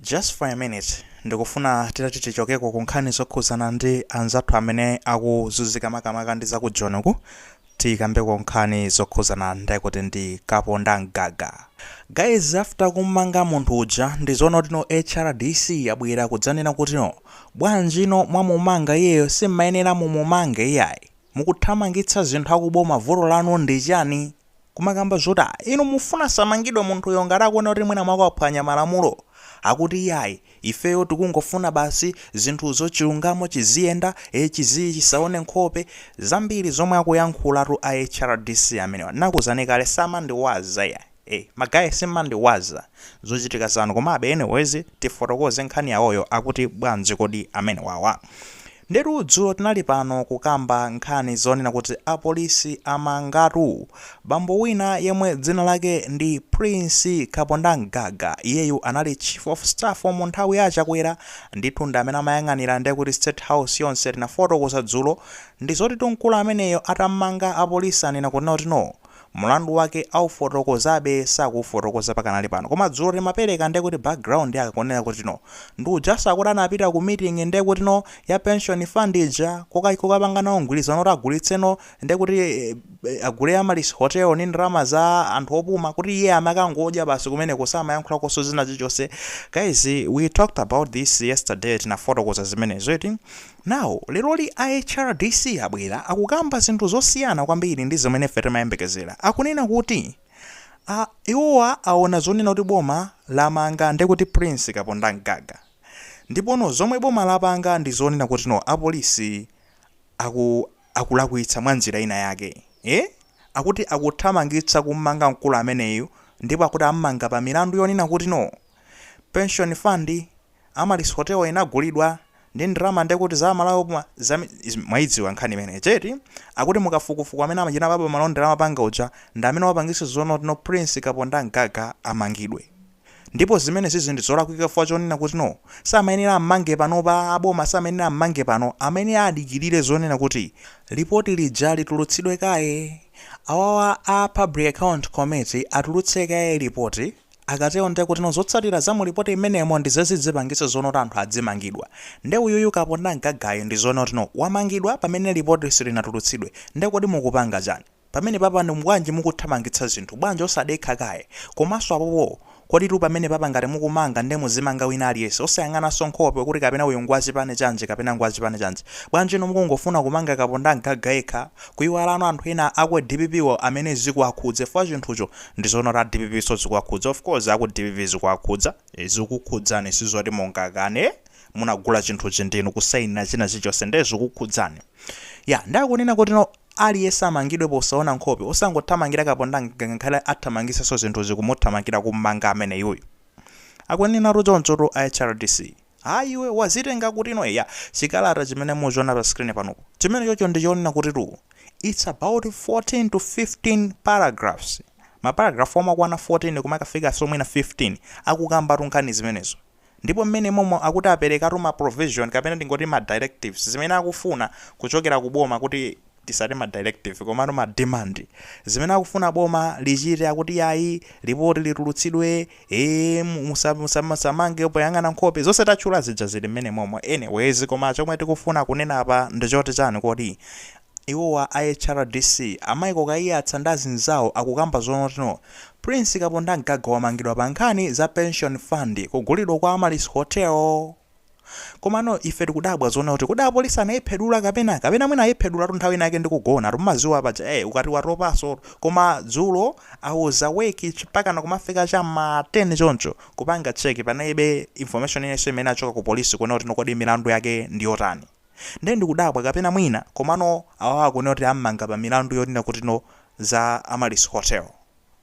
Just for a minute, ndikufuna titati tichokeko ku nkhani zokhudzana ndi anzathu amene akuzunzika makamaka ndi za ku Joni uku, tikambeko nkhani zokhudzana ndekuti ndi Kaponda Mgaga. Guys, after kummanga munthu uja, ndizoona kuti no HRDC yabwera kudzanena kuti no, bwanji no mwamumanga iyeyo simmayenera mumumange iyayi, mukuthamangitsa zinthu akuboma vuto lanu ndi chani? kumakamba zoti a inu mufuna asamangidwe munthuyo ngati akuona kuti mwina mwake waphwanya malamulo akuti iyayi ifeyo tikungofuna basi zinthu zachilungamo chiziyenda e chizii, chisaone nkhope zambiri zomwe akuyankhulatu a hrdc amenewa ndakuuzani kale samandiwaza ya e ma guy simmandiwaza zochitika zanu komabe anyways tifotokoze nkhani yawoyo akuti bwanji kodi amenewawa Ndetu dzulo tinali pano kukamba nkhani zonena kuti apolisi amangatu bambo wina yemwe dzina lake ndi Prince Kaponda Mgaga, iyeyu anali Chief of Staff mu nthawi ya a Chakwera, ndithu ndi amene amayang'anira ndekuti State House yonse tinafotokoza dzulo, ndi zotitu mkulu ameneyo atammanga apolisi anena kunena kuti no. Mlandu wake aufotokozabe sakuufotokoza pakanali pano koma dzulo timapereka ndekuti background yake kunena kuti no ndi ujanso akuti anapita ku meeting ndekuti no ya pension fund ija kukapanga nawo mgwilizano oti agulitse no ndekuti agule Amaryllis hotel ndi ndalama za anthu opuma kuti iye amakangodya basi kumeneko samayankhulakonso china chilichonse guys we talked about this yesterday tinafotokoza zimenezo eti Now leroli a HRDC abwera akukamba zinthu zosiyana kwambiri ndi zimene ife timayembekezera. Akunena kuti a, iwowa aona zonena kuti boma lamanga nde kuti Prince Kaponda Mgaga. Ndipo no zomwe boma lapanga ndi zonena kuti no apolisi aku, akulakwitsa mwa njira ina yake. Eh? Akuti akuthamangitsa kummanga mkulu ameneyu ndipo akuti ammanga pa milandu yonena kuti no pension fund, Amaryllis Hotel inagulidwa ndi ndalama nde kuti za Amalawi opuma za mwaidziwa nkhani imeneija eti? Akuti mukafukufuku amene amachita baba malonda amapanga uja ndi amene wapangisa zonena kuti no Prince Kaponda Mgaga amangidwe ndipo zimenezizi ndi zolakwika chifukwa chonena kuti no samayenera ammange panopa aboma samayenera ammange pano amayenera adikilire zonena kuti lipoti lija litulutsidwe kaye awawa a public account committee atulutse kaye lipoti Akatero ndiye kuti no zotsatira za mu report imenemo ndi zimene zidzipangitsa zonena kuti anthu adzimangidwa. Nde uyuyu Kaponda Mgagayu ndizoona kuti no wamangidwa pamene report silinatulutsidwe. Nde kodi mukupanga chani? Pamenepapa ndi bwanji mukuthamangitsa zinthu? Bwanji osadekha kaye? Komanso apopo koditu pamenepapa ngati mukumanga nde muzimanga wina aliyense osayang'ananso nkhope kuti kapena uyu ngwachipani chanji kapena ngwachipani chanji. Bwanji inu mukungofuna kumanga Kaponda Mgaga yekha kuyiwala no anthu ena aku DPP-wo amene zikuwakhudza, chifukwa chinthucho Ndizoona kuti a dpp nso zikuwakhudza of course aku dpp zikuwakhudza. Zikukhudzani sizoti mungakane munagula chinthuchi ndinu kusainira china chilichonse nde zikukhudzani yeah nde akunena kuti aliyense amangidwe posaona nkhope, osangothamangira Kapondamgaga ngakhale athamangitsenso zinthuzi kumuthamangira kummanga ameneyuyu akunenatu chonchotu a HRDC. Ayi iwe, wazitenga kuti no eya, chikalata chimene muchiona pa screen panopo, chimenechocho ndi chonena kutitu it's about 14 to 15 paragraphs, ma paragraph omakwana 14 kumakafikanso mwina 15 akukambatu nkhani zimenezo ndipo mmene momo akuti aperekatu ma provision kapena tingoti ma directives zimene akufuna kuchokera ku boma kuti tisati ma directive komano ma demand zimene akufuna boma lichite akuti yayi lipoti litulutsidwe ee musamange poyang'ana nkhope zonse tatchula zija zili mmene momo anyways koma chomwe tikufuna kunena apa ndichoti chani kodi iwowa a hrdc a Michael Kaiyatsa ndi azinzawo akukamba zonoti no Prince Kapondamgaga wamangidwa pa nkhani za pension fund kugulidwa kwa Amaryllis Hotel komano ife tikudabwa zoona kuti kodi apolisi anayiphedula kapena kapena mwina ayiphedulatu nthawi inayake ndikugona timadziwa paja eh ukati watopanso koma dzulo I was awake chipakana kumafika cha ma 10 choncho kupanga check panalibe information yonse imene yachoka ku polisi kuona kuti kodi milandu yake ndi yotani ndiye ndikudabwa kapena mwina komano awawa akunena kuti ammanga pa milandu yonena kuti no za Amaryllis Hotel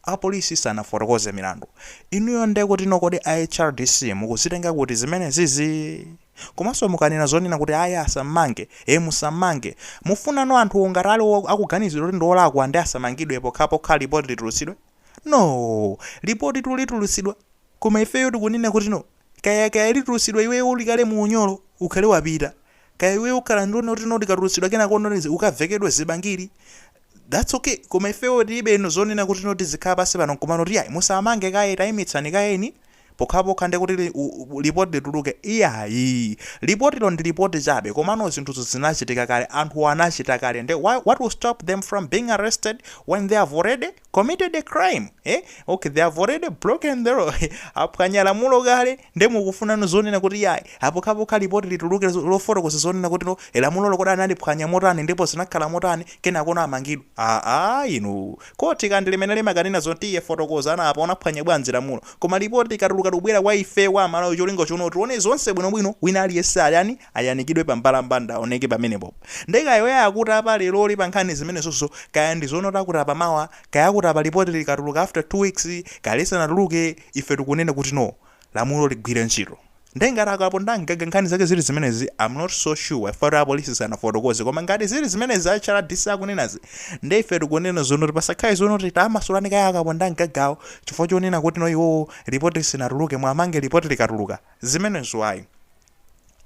Apolisi sanafotokoze milandu. Inuyo nde kuti no kodi a hrdc mukuzitenga kuti zimene zizi? Komanso mukanena zonena kuti ayi asammange, ee musammange, mufunano anthuwo ngati ali akuganiziridwa kuti ndiolakwa nde asamangidwe pokhapokha lipoti litulutsidwe? No! Lipotitu litulutsidwa koma ifeyo tikunena kuti no kaya kaya litulutsidwa iweyo uli kale mu unyolo ukhale wapita, kaya iweyo ukhala ndiona kuti no likatulutsidwa kenako ukavekedwe zibangili that's ok koma ifeyo tilibeno zonena kuti no tizikhala pansi pano nkumanena kuti ayi musamange kaye tayimitsani kayeni pokhapokha ndi kuti li- u- u- lipoti lituluke iyayi lipotilo ndi lipoti chabe komano zinthuzo zinachitika kale anthu anachita kale nde what will stop them from being arrested when they have already committed a crime eh? ok they have already broken the law aphwanya lamulo kale Nde mukufunano zonena kuti yayi apokhapokha lipoti lituluke lofotokoza zonena kuti no lamulolo kodi analiphwanya motani ndipo zinakhala motani kenakono amangidwe aa inuu khothi kaya ndi limene limakanena zoti iwe fotokoza apa unaphwanya bwanji lamulo koma lipoti likatuluka likubwera kwa ifeyo amalawi cholinga chonena kuti tione zonse bwinobwino wina aliyense ayani ayanikidwe pa mbalambanda aoneke pamenepopo nde kaya oyayi akuti apa leroli pankhani zimenezozo kaya ndizonoti akuti apa mawa kaya akuti apa lipoti likatuluka after two weeks kaya lisanatuluke Ife tikunena kuti no, lamulo ligwire ntchito. Nde ngati a Kapondam'gaga nkhani zake zili zimenezi, am not so sure chifukwatu a police sanafotokoze, koma ngati zili zimenezi a HRDC akunenazi, nde ife tikunena zonoti pasakhale zonoti tamasulani kaye a Kapondam'gagawo chifukwa chonena kuti no iwowo report silinatuluke, muwamange report likatuluka. Zimenezo ayi.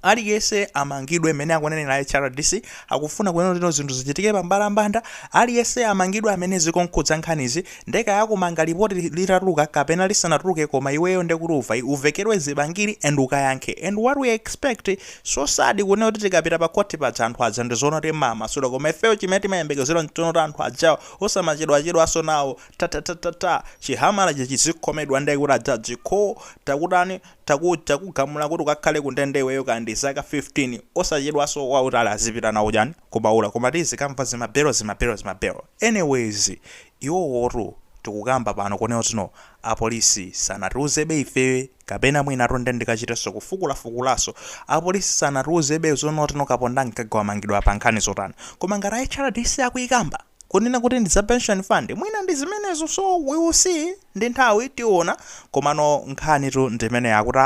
Aliyense amangidwe mmene akunenera a HRDC akufuna kunena kuti no zinthu zichitike pambalambanda aliyense amangidwe amene zikumkhudza nkhanizi nde kaya akumanga lipoti litatuluka kapena lisanatuluke koma iweyo nde kuti uva uvekedwe zibangiri and ukayankhe and what we expect so sad kunena kuti tikapita pa court paja anthu aja ndi zonoti mmawamasula koma ifeyo chimene timayembekezera nchonena kuti anthu ajawa osamachedwachedwaso nawo tatatatatata chihamalachi chizikhomedwa nde kuti a judge kk takutani takugamula kuti ukakhale kundende iweyo kaya ndi zaka 15 osachedwaso wautali azipita nawo chani kubaula koma tizikamva zima belo zima belo zima belo anyways iwowotu tikukamba pano kunena kuti no apolisi sanatiuzebe ife kapena mwinatu nde ndikachiteso kufukulafukulaso apolisi sanatiuzebe zonoti no Kapondam'gaga wamangidwa pa nkhani zotani koma ngati a hrdc akuikamba kunena kuti ndi za pension fund mwina ndi zimenezo so we will see. ndi nthawi tiona komano nkhanitu ndi imeneyi yakuti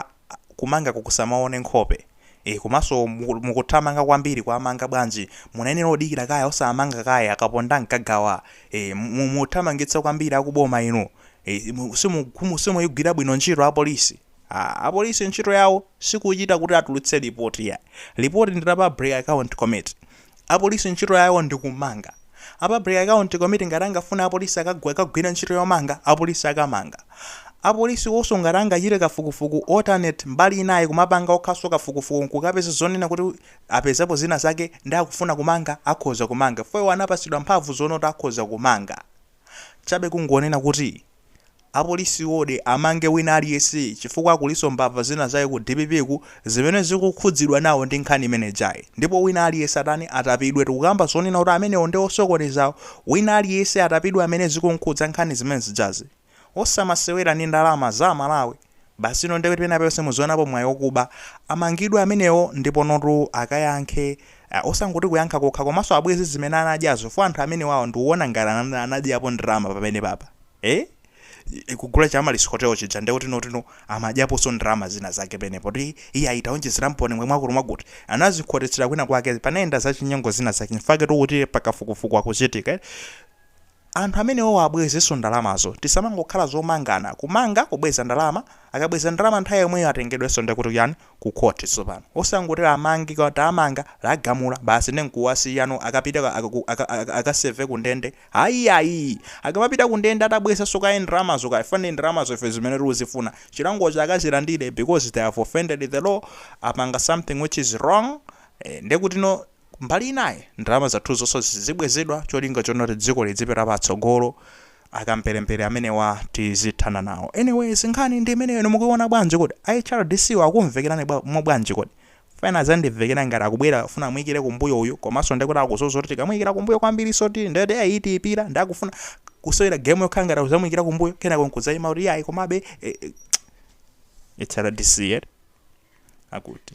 kumangaku kusamaone nkhope ee komanso muku- mukuthamanga kwambiri kuwamanga bwanji munayenera kudikira kaye osamanga kaye a Kapondam'gagawa ee mu- muthamangitsa kwambiri akuboma inu ee mu- simu- kumu- simuyigwira bwino ntchito apolisi Aaa apolice ntchito yawo sikuchita kuti atulutse report ayi. Report ndi la public account committee. Apolice ntchito yawo ndi kumanga. A public account committee ngati angafune apolice akagwe akagwire ntchito yomanga apolice akamanga. Apolice wonso ngati angachite kafukufuku alternate mbali ina iyi kumapanga okhanso kafukufuku nkukapeza zonena kuti apezapo zina zake nde akufuna kumanga akhoza kumanga chifukwa iwo anapatsidwa mphamvu zonena kuti akhoza kumanga. Chabe kungonena kuti Apolisiwodi amange wina aliyense chifukwa kulinso mbava zina zake ku dppku zimene zikukhudzidwa nawo ndi nkhani imene ijayi ndipo wina aliyense atani atapidwe tikukamba zonena kuti amenewo nde osokonezawo wina aliyense atapidwe amene zikumkhudza nkhani zimene zijazi osamasewera ndi ndalama za amalawi Basi no ndekuti pena paliponse muzionapo mwayi okuba, amangidwe amenewo ndiponotu akayankhe ah osangoti kuyankha kokha komaso abweze zimene anadyazo chifukwa anthu amenewawa ndikuona ngati anadyapo ndalama pamenepapa eeh kugula cha Amaryllis Hotel chija ndekuti notino amadyaposo ndalama zina zake penepo poti iyayi taonjezeramponi mwa mwakuti mwakuti anazikhotetsera kwina kwake panayenda zachinyengo zina zake nchifukwa chaketu kuti pakafukufuku akuchitika eti Anthu amenewo abwezenso ndalamazo. Tisamangokhala zomangana. Kumanga, kubweza ndalama, akabweza ndalama nthawi yomweyo atengedwenso ndiye kuti chani? Ku court tsopano. Osangoti amange, tamanga, lagamula, basi ndiye nkuwasiyano akapite akaseve ku ndende. Ayiayi! Akamapita ku ndende atabwezanso kaye ndalamazo chifukwa ndi ndalamazo ife zimene tikuzifuna chilangocho akazilandire because they have offended the law, apanga something which is wrong, eh, ndiye kutino, Mbali inayi ndalama zathuzonso zizibwezedwa cholinga chonoti dziko lidzipita patsogolo akamberembere amenewa tizithana nawo anyways nkhani ndi imeneyo inu mukuiona bwanji kodi a hrdc wo akumvekerani bwa, mwa bwanji kodi if ine zandimvekera ngati akubwera akufuna amuikire kumbuyo uyu komanso ndekuti akuziwa zoti tikamuikira kumbuyo kwambirinsotu nde kuti ai tiipira nde akufuna kusewera game yokhala ngati akuzamuikira kumbuyo kenako nkudzaima kuti iyayi komabe eh, eh, hrdc eti akuti